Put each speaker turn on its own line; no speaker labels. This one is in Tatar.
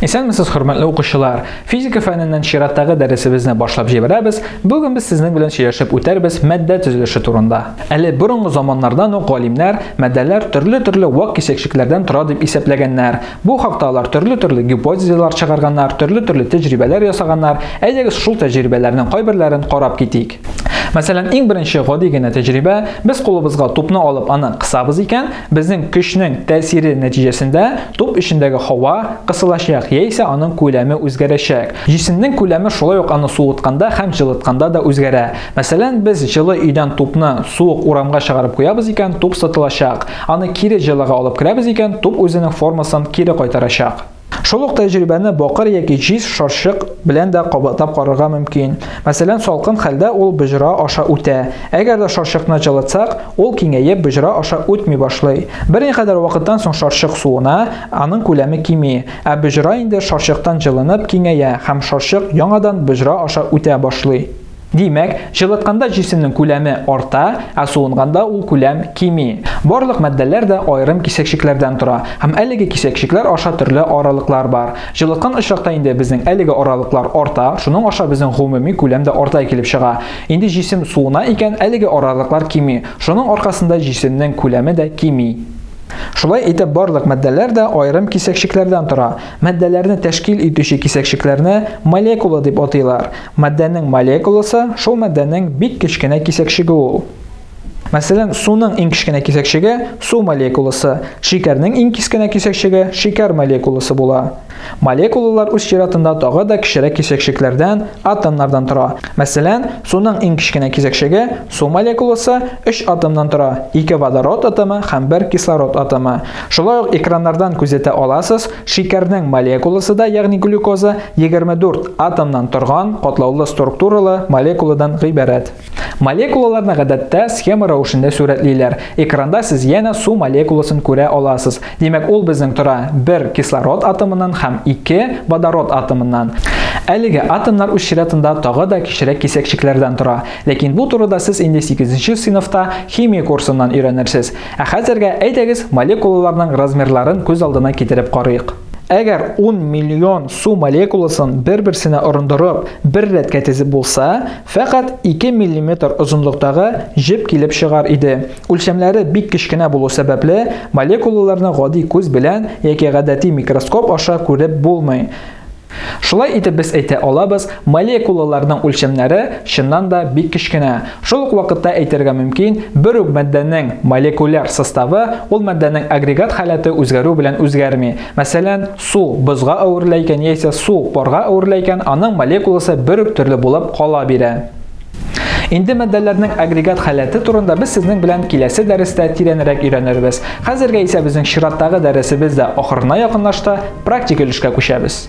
Исәнмесез, хөрмәтле укучылар! Физика фәненнән чираттагы дәресебезне башлап җибәрәбез. Бүген без сезнең белән сөйләшеп үтәрбез матдә төзелеше турында. Әле борынгы заманнардан ук галимнәр матдәләр төрле-төрле вак кисәкчекләрдән тора дип исәпләгәннәр. Бу хакта алар төрле-төрле гипотезалар чыгарганнар, төрле-төрле тәҗрибәләр ясаганнар. Әйдәгез шул тәҗрибәләрнең кайберләрен карап китик. Мәсәлән, иң беренче гади генә тәҗрибә, без кулыбызга тупны алып аны кысабыз икән, Безнең көчнең тәэсире нәтиҗәсендә туп эчендәге һава кысылачак яисә аның күләме үзгәрәчәк. Җисемнең күләме шулай ук аны суытканда һәм җылытканда да үзгәрә. Мәсәлән, без җылы өйдән тупны суык урамга чыгарып куябыз икән, туп сытылачак. Аны кире җылыга алып керәбез икән, туп үзенең формасын кире кайтарачак. Шул ук тәҗрибәне бакыр яки җиз шарчык белән дә кабатлап карарга мөмкин. Мәсәлән, салкын хәлдә ул боҗра аша үтә. Әгәр дә шарчыкны җылытсак, ул киңәеп боҗра аша үтми башлый. Берникадәр вакыттан соң шарчык суына, аның күләме кими, ә боҗра инде шарчыктан җылынып киңәя һәм шарчык яңадан боҗра аша үтә башлый. Димәк, җылытканда җисемнең күләме арта, ә суынганда ул күләм кими. Барлык матдәләр дә аерым кисәкчекләрдән тора, һәм әлеге кисәкчекләр аша төрле аралыклар бар. Җылыткан очракта инде безнең әлеге аралыклар арта, шуның аша безнең гомуми күләм дә арта килеп чыга. Инде җисем суына икән, әлеге аралыклар кими, шуның аркасында җисемнең күләме дә кими. Шулай итеп, барлык матдәләр дә аерым кисәкчекләрдән тора. Матдәләрне тәшкил итүче кисәкчекләрне молекула дип атыйлар. Матдәнең молекуласы шул матдәнең бик кечкенә кисәкчеге ул. Мәсәлән, суның иң кечкенә кисәкчеге су молекуласы, шикәрнең иң кискенә кисәкчеге шикәр молекуласы була. Молекулалар үз чиратында тагы да кечерәк кисәкчекләрдән, атомнардан тора. Мәсәлән, суның иң кечкенә кисәкчеге су молекуласы 3 атомнан тора, 2 водород атомы һәм 1 кислород атомы. Шулай ук экраннардан күзәтә аласыз, Шикәрнең молекуласы да, ягъни глюкоза, 24 атомнан торган катлаулы структуралы молекуладан гыйбарәт. Молекулаларны гадәттә схема рәвешендә сурәтлиләр. Экранда сез янә су молекуласын күрә аласыз. Димәк, ул безнең тора бер кислород атомыннан һәм ике водород атомыннан. Әлеге атомнар үз чиратында тагы да кечерәк кисәкчекләрдән тора. Ләкин бу турыда сез инде сигезенче сыйныфта химия курсыннан өйрәнерсез. Ә хәзергә әйдәгез молекулаларның размерларын күз алдына китереп карыйк. Әгәр 10 миллион су молекуласын бер-берсенә орындырып, бер рәткә тезеп булса, фәкать 2 миллиметр озынлыктагы җеп килеп чыгар иде. Үлчәмләре бик кечкенә булу сәбәпле, молекулаларны гади күз белән яки гадәти микроскоп аша күреп булмый. Шулай итеп без әйтә алабыз, молекулаларның үлчәмнәре, чыннан да, бик кечкенә. Шул ук вакытта әйтергә мөмкин, бер үк матдәнең молекуляр составы ул матдәнең агрегат халәте үзгәрү белән үзгәрми. Мәсәлән, су бозга әверелә икән яисә су парга әверелә икән, аның молекуласы бер үк төрле булып кала бирә. Инде матдәләрнең агрегат халәте турында без сезнең белән киләсе дәрестә тирәнрәк өйрәнербез. Хәзергә исә безнең чираттагы дәресебез дә ахырына якынлашты, практик өлешкә күчәбез.